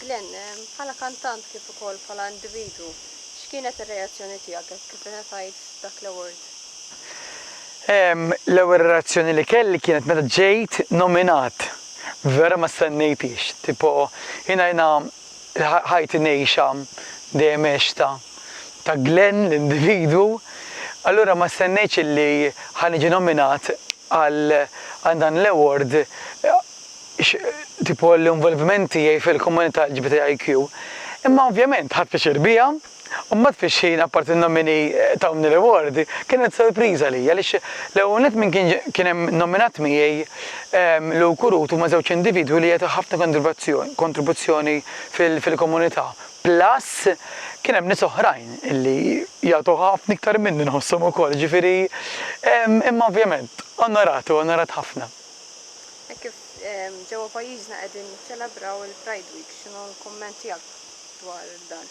Glenn, bħala kantant kif ukoll bħala individwu, x'kienet ir-reazzjoni tiegħek hekk kif ingħatajt dak l-award? Ehm, l-ewwel reazzjoni li kelli kienet meta ġejt nominat. Vera ma stennejthiex. Tipo, jiena jiena ħajti ngħixha dejjem għextha ta' Glenn l-individwu, allura ma stennejtx illi ħa niġi nominat. Għal dan l-award, x' tipo l-involviment tiegħi fil-komunità LGBTIQ. Imma ovvjament ħadt pjaċir biha. U mbagħad fix-xhiena apparti n-nomini tawni l-award, kienet sorpriża għalija għaliex l-ewwel nett min kien hemm nominat miegħi Lou Curut huma żewġ individwi li jagħtu ħafna kontribuzzjoni fil-komunità. Plus kien hemm nies oħrajn li jagħtu ħafna iktar minni nħosshom ukoll, jiġifieri imma ovvjament onorat u onorat ħafna. Hekk kif ġewwa pajjiżna qegħdin niċċelebraw il-Pride Week, x'inhu l-kumment tiegħek dwar dan?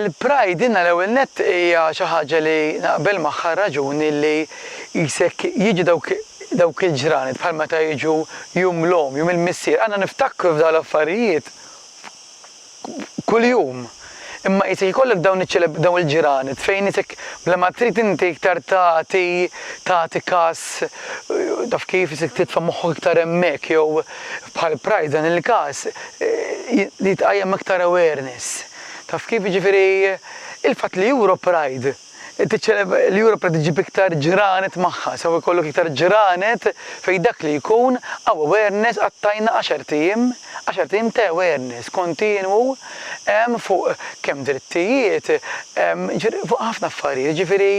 Il-Pride jiena l-ewwel nett hija xi ħaġa li naqbel magħha r-raġuni li qisek jiġu dawk dawk il-ġranet bħal meta jiġu Jum l-Omm, Jum il-Missier, għandna niftakru f'dawn l-affarijiet kuljum. Imma qisek ikollok dawn dawn il-ġirani tfejnitek bla ma trid inti iktar tagħti tagħti kas taf kif isek titfa' moħħok iktar hemmhekk jew bħal Pride f'dan il-każ li tqajjem aktar awareness taf kif jiġifieri il-fatt li Europride L-Ewropa trid iġġib iktar ġranet magħha, sew ikollok iktar ġranet fejn dak li jkun hawn awareness qattajna għaxart ijiem, għaxart ijiem ta' awareness kontinwu fuq kemm drittijiet, jiġifieri fuq ħafna affarijiet, jiġifieri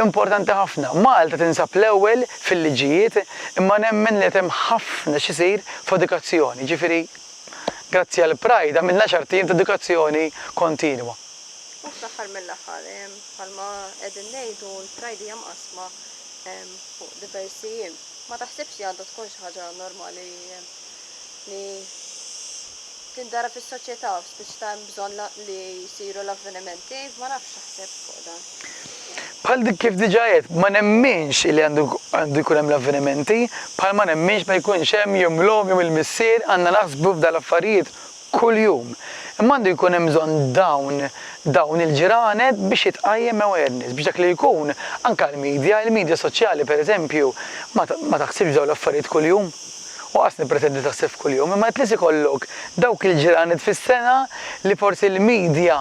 importanti ħafna. Malta tinsab l-ewwel fil-liġijiet imma nemmen li qed hemm ħafna x'isir f'edukazzjoni, jiġifieri grazzi għall-Pride għamilna għaxart ijiem ta' edukazzjoni kontinwa. U fl-aħħar mill-aħħar, bħalma qegħdin ngħidu l-Pride hija mqassma fuq diversi jiem. Ma taħsibx li għandha tkun xi ħaġa normali li tindara fis-soċjetà spiċċ ta' hemm bżonn li jsiru l-avvenimenti, ma nafx x'taħseb fuq dan. Bħal dik kif diġà għedt, ma nemminx li għandu jkun hemm l-avvenimenti, bħalma nemminx ma jkunx hemm jum l-omm, jum il-missier, għandna naħsbu f'dan l-affarijiet kuljum. Imma għandu jkun hemm bżonn dawn dawn il-ġranet biex jitqajjem awareness, biex dak li jkun, anke għall-media, il-media soċjali pereżempju ma ma taħsibx f'dawn l-affarijiet kuljum, u qas nippretendi li taħseb f'kuljum, imma at least ikollok dawk il-ġranet fis-sena li forsi l-media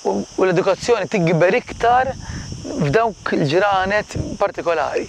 u l-edukazzjoni tikber iktar f'dawk il-ġranet partikolari.